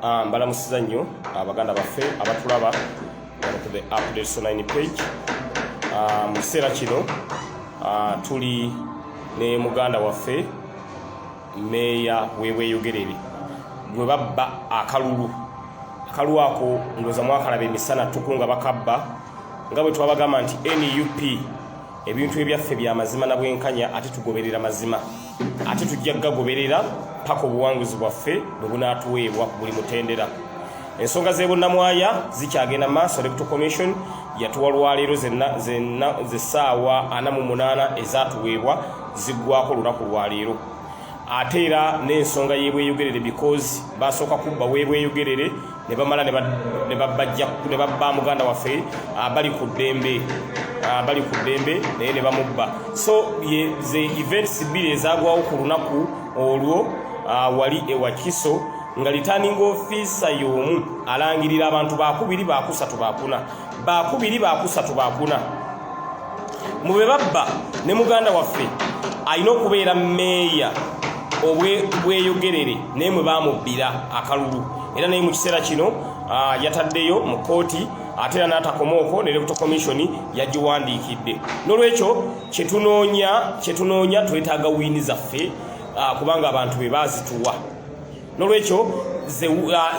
Ah, mbalamusiza nnyo abaganda ah, baffe abatulaba to the update so 9 page ah, mu kiseera kino tuli ne muganda waffe meeya webweyogerere gwe babba akalulu akalulu ako ndoza mwakalaba emisana tuku nga bakabba nga bwe twabagamba nti nup ebintu ebyaffe bya mazima na bwenkanya ate tugoberera mazima ate tujja kugagoberera paka obuwanguzi bwaffe bwe bunaatuweebwa ku buli mutendera ensonga z'ebunnamwaya zikyagenda maaso deputy commission yatuwa lwaleero zesaawa ana mu munaana ezatuweebwa ziggwako olunaku lwaleero ate era n'ensonga y'ebweyogerere because basooka kubba w'ebweyogerere ne bamala ne babajja ne babba muganda waffe ah, bali ku ddembe ah, bali ku ddembe naye ne bamubba so ze events bbiri ezagwawo ku lunaku olwo ah, wali ewakiso nga litanning ofisa y'omu alangirira abantu bakubiri bakusatu bakuna bakubiri bakusatu bakuna mu be babba ne muganda waffe alina okubeera meeya obweyogerere naye mwe bamubbira akalulu era naye mu kiseera kino ah, yataddeyo mu kkooti ate era n'atakomaoko ne rebuto commission yagiwandiikidde n'olwekyo kyetunoonya kyetunoonya twetaaga wiini zaffe ah, kubanga abantu be baazituwa nolwekyo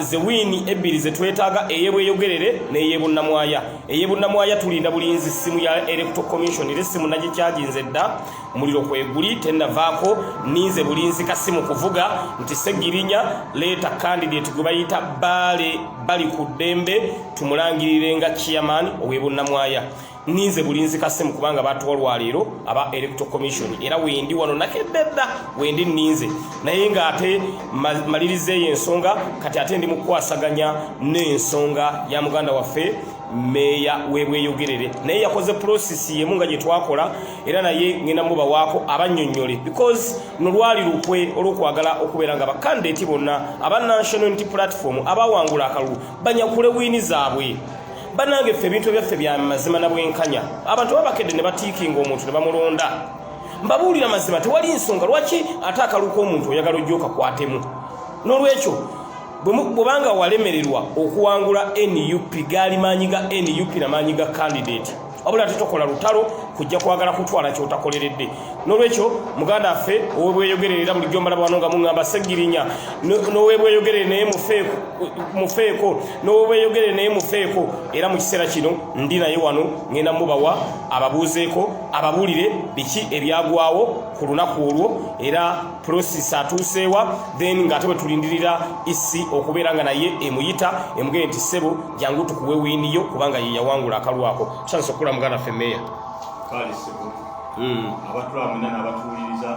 zewiini uh, ebbiri zetwetaaga eyebweyogerere neyebunnamwaya eyebunnamwaya tulinda bulinzi simu ya electo commission era essimu nagikyaginze dda muliro kweguli tenavaako ninze bulinzi kasimu kuvuga nti segirinya leeta candidate gwe bayita baale bali ku ddembe tumulangirire nga chairman owebunnamwaya ninze bulinzi kasimu kubanga batuwa lwaleero aba electo commission era wendi wano nakededda wendi ninze naye nga ate malirizeeyo ensonga kati ate ndi mukwasaganya n'ensonga ya muganda waffe meeya webweyogerere naye yakoze prosesi yemu nga gyetwakola era naye ngenda mubawaako abanyonyole because nolwali lukwe olwokwagala okubeera nga bakandidati bonna aba national unity platform abawangula akalulu banyakule wiini zaabwe banange ffe ebintu ebyaffe bya mazima na bwenkanya abantu babakedde ne batiikinga omuntu ne bamulonda mbabuulira mazima tewali nsonga lwaki ate akaluka omuntu oyagala ojja okakwatemu n'olwekyo bwebanga walemererwa okuwangula nup gaali maanyi ga nup na maanyi ga kandidate wabula tetukola lutalo kujja kwagala kutwala kyotakoleredde nolwekyo muganda affe owebweyogerere era bulijjo mbala bwano nga muŋamba segirinya nowebweyogerere naye mufeeko nowebweyogerere naye mufeeko era mu kiseera kino ndi naye wano ŋenda mubawa ababuuzeeko ababuulire biki ebyagwawo ku lunaku olwo era prosis atuuseewa then nga ate bwe tulindirira isi okubeera nga naye emuyita emugee nti ssebo jangu tukuwe wini yo kubanga ye yawangula akalwa ako tusandise okukula muganda ffe meeya hmm. abatula mwena n'abatuwuliriza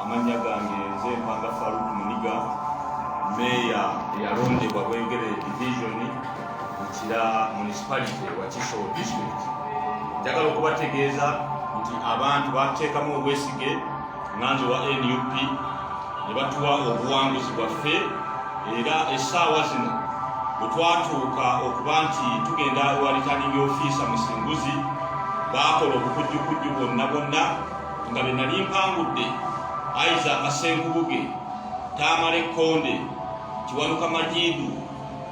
amannya gange nze mpanga faruk muniga meeya eyalondebwa bwengere divisioni mukira municipality wa kiso district njagala okubategeeza nti abantu bateekamu obwesige nganze wa nup ne batuwa obuwanguzi bwaffe era essaawa zino bwe twatuuka okuba nti tugenda ewa riturning ofiisa musinguzi baakola obukujjukujju bwonna bwonna nga be nali mpangudde aiza akasenkubuge taamala ekkonde kiwanuka majiidu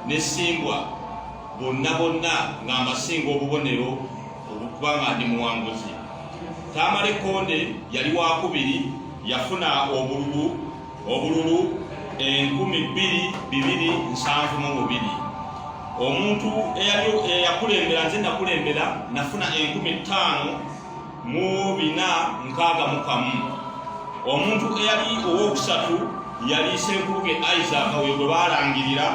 ne simbwa bonna bonna nga mbasinga obubonero okuba nga ndi muwanguzi. Tamale Konde yali wakubiri yafuna obululu obululu enkumi bbiri bibiri nsanvu mu bubiri omuntu eyakulembera nze nakulembera nafuna enkumi ttaano mu bina nkaaga mu kamu omuntu eyali owookusatu yali senkuluke isaaka oyo gwe baalangirira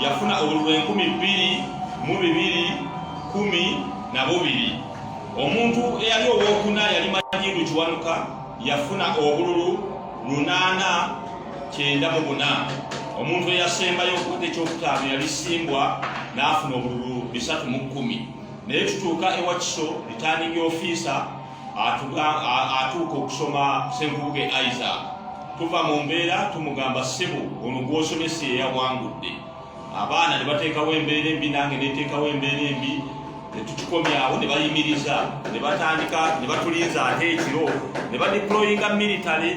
yafuna obululu enkumi bbiri mu bibiri kumi na bubiri omuntu eyali owokuna yali majidu kiwanuka yafuna obululu lunaana kyenda mu buna omuntu eyasembayo okuta ekyokutaano yali simbwa n'afuna obululu bisatu mu kkumi naye tutuuka ewakiso ritaningi ofiisa atuuka okusoma senkubuge isaac tuva mu mbeera tumugamba ssebo ono gwosomesa eyawangudde abaana ne bateekawo embeera embi nange neteekawo embeera embi netukikomyawo ne bayimiriza ne batandika ne batulinza ate ekiro ne badiployinga military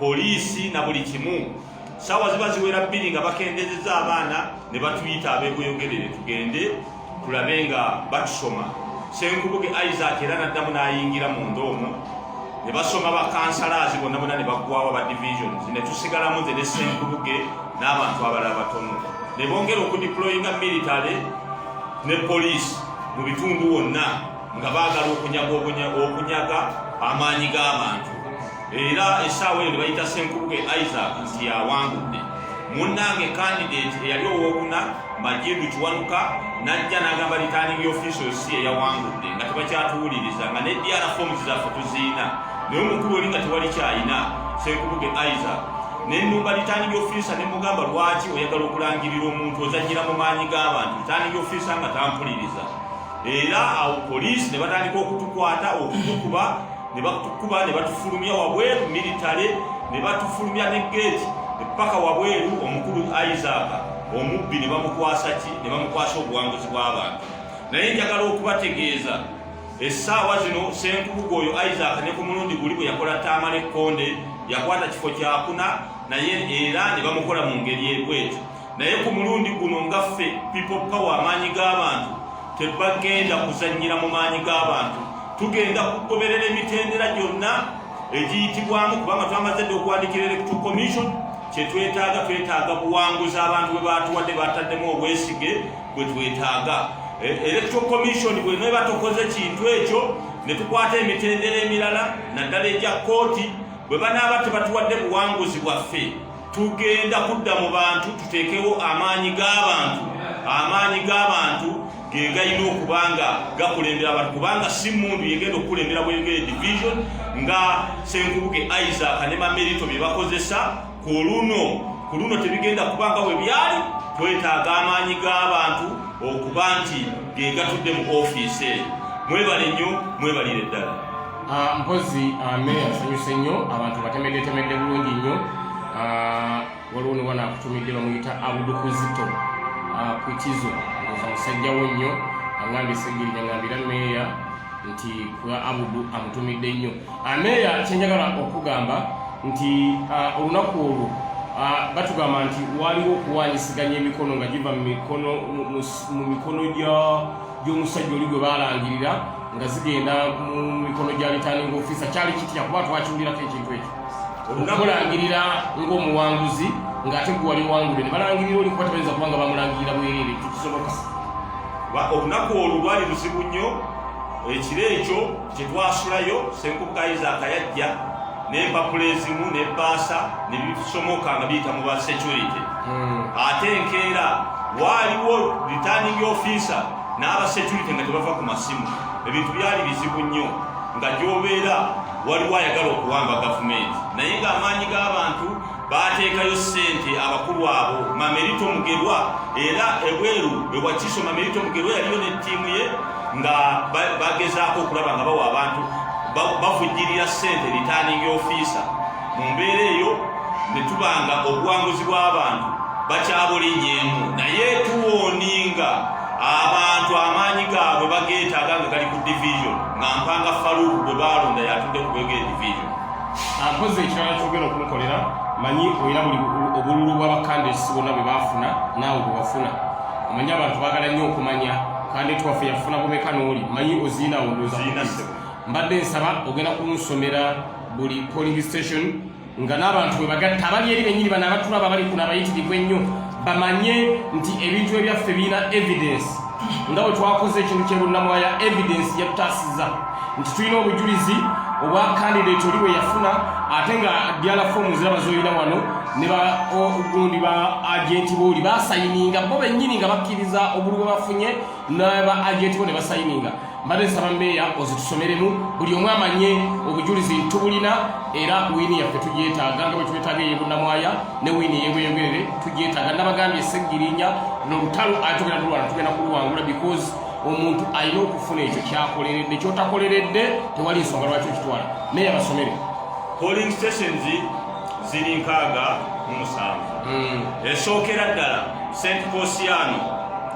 poliisi na buli kimu sawa ziba ziwera bbiri nga bakendezeza abaana ne batuyita abekweyogerere tugende tulabe nga batusoma senkubuge isaac era naddamu n'ayingira munda omwo ne basoma bakansalaazi bonna bona ne baggwawo ba divisions ne tusigalamu nze ne senkubuge n'abantu abalala batono ne bongera okudiployinga military ne poliisi mu bitundu wonna nga baagala okunyaga okunyaga amaanyi g'abantu era essaawa eyo nebayita senkubuge isaac nti yawangudde munnange kandidate eyali owokuna majidu kiwanuka najja nagamba returning official si eyawangudde nga tebakyatuwuliriza nga nedr forms zaffe tuziina naye omukulu oli nga tewali kyayina senkubuge isaac nenumba returning officer nemugamba lwaki oyagala okulangirira omuntu ozanyira mu maanyi g'abantu returning officer nga tampuliriza era awo poliisi ne batandika okutukwata okutukuba ne batukuba ne batufulumya wabweru militale ne batufulumya ne geeti epaka wabweru omukulu isaaka omubbi ne bamukwasa ki ne bamukwasa obuwanguzi bw'abantu naye njagala okubategeeza essaawa zino senkubuga oyo isaac ne ku mulundi guli bwe yakola taamala ekkonde yakwata kifo kyakuna naye era ne bamukola mu ngeri ebwetyo naye ku mulundi guno nga ffe people power amaanyi g'abantu tebagenda kuzannyira mu maanyi g'abantu tugenda kugoberera emitendera gyonna egiyitibwamu kubanga twamaze dde okuwandikira electoral commission kyetwetaaga twetaaga buwanguzi abantu bwe batuwadde bataddemu obwesige bwe twetaaga e, electoral commission bweneba tokoze kintu ekyo ne tukwata emitendera emirala naddala egya kooti bwe banaaba tebatuwadde buwanguzi bwaffe tugenda kudda mu bantu tuteekewo amaanyi g'abantu amaanyi g'abantu ge galina okuba nga gakulembera abantu kubanga si mundu yegenda okukulembera bweyogere division nga senkubuge isaac ne mamerito bye bakozesa ku luno ku luno tebigenda kuba nga bwe byali twetaaga amaanyi g'abantu okuba nti ge gatudde mu ofiisi eyo mwebale nnyo mwebalire ddala Ah, mpozi ame ah, asanyuse nnyo abantu batemeddetemedde bulungi nnyo ah, waliwo ne wana akutumidde bamuyita abudukuzito kwitizo oza musajja wo nnyo angambye segirinya ngambira meeya nti kuba abudu amutumidde nnyo meeya kyenjagala okugamba nti olunaku olwo batugamba nti waliwo okuwanyisiganya emikono nga giva mu mikono gya gy'omusajja oli gwe baalangirira nga zigenda mu mikono gya litaninga ofisa kyali kitya kuba twakiwulirako ekintu ekyo okulangirira ng'omuwanguzi ng'ate gwe wali wangule ne balangirira oli kuba tebayinza kuba nga bamulangirira bwereere ekyo kisoboka olunaku olwo lwali luzibu nnyo ekiro ekyo Tetwasulayo Ssenkubuka Isaac yajja n'empapula ezimu n'ebbaasa ne bisomoka nga biyita mu ba security hmm. ate enkeera waaliwo returning officer n'aba security nga tebava ku masimu ebintu byali bizibu nnyo nga gyobeera waliwo ayagala okuwamba gavumenti naye ng'amaanyi g'abantu baateekayo ssente abakulu abo mamerito mugerwa era ebweru ewakiso mamerito mugerwa yaliyo ne ttiimu ye nga bagezaako okulaba nga bawa abantu bavujjirira ssente ritaaningi ofiisa mu mbeera eyo ne tuba nga obuwanguzi bw'abantu bakyabulinyeemu naye tuwoninga abantu amaanyi gaabwe bageetaaga nga gali ku division nga mpanga faluuku gwe baalonda yatudde ku bwegee division akoze ekirala kyogenda okumukolera manyi olina buli obululu bwabakandesi bonna bwe bafuna naawe bwewafuna omanyi abantu bagala nnyo okumanya kandi twaffe yafuna bumeka nooli manyi oziina wondoza mbadde nsaba ogenda kunsomera buli polling station nga n'abantu bwe bagatta abali eri benyini bano abatulaba bali kuno abayitirivu ennyo bamanye nti ebintu ebyaffe birina evidence nga bwe twakoze ekintu kye bunnamwaya evidence yatutaasiza nti tulina obujulizi obwa kandidate oli bwe yafuna ate nga diala fomu ziraba zolina wano ne bagundi ba agenti booli basayininga bo bennyini nga bakkiriza obulu bwe bafunye naba agenti bo ne basayininga mbadde nsaba meeya ozitusomeremu buli omu amanye obujulizi ntubulina era wiini yaffe tugyetaaga nga bwetubetaaga eyebunamwaya ne wiini eyebweyogerere tugyetaaga nabagambye eseggirinya nolutalo atugenda tulwana tugenda kuluwangula because omuntu alina okufuna ekyo kyakoleredde kyotakoleredde tewali nsonga lwaki okitwala naye abasomere polling stations ziri nkaaga mu musanvu hmm. esookera ddala st posiano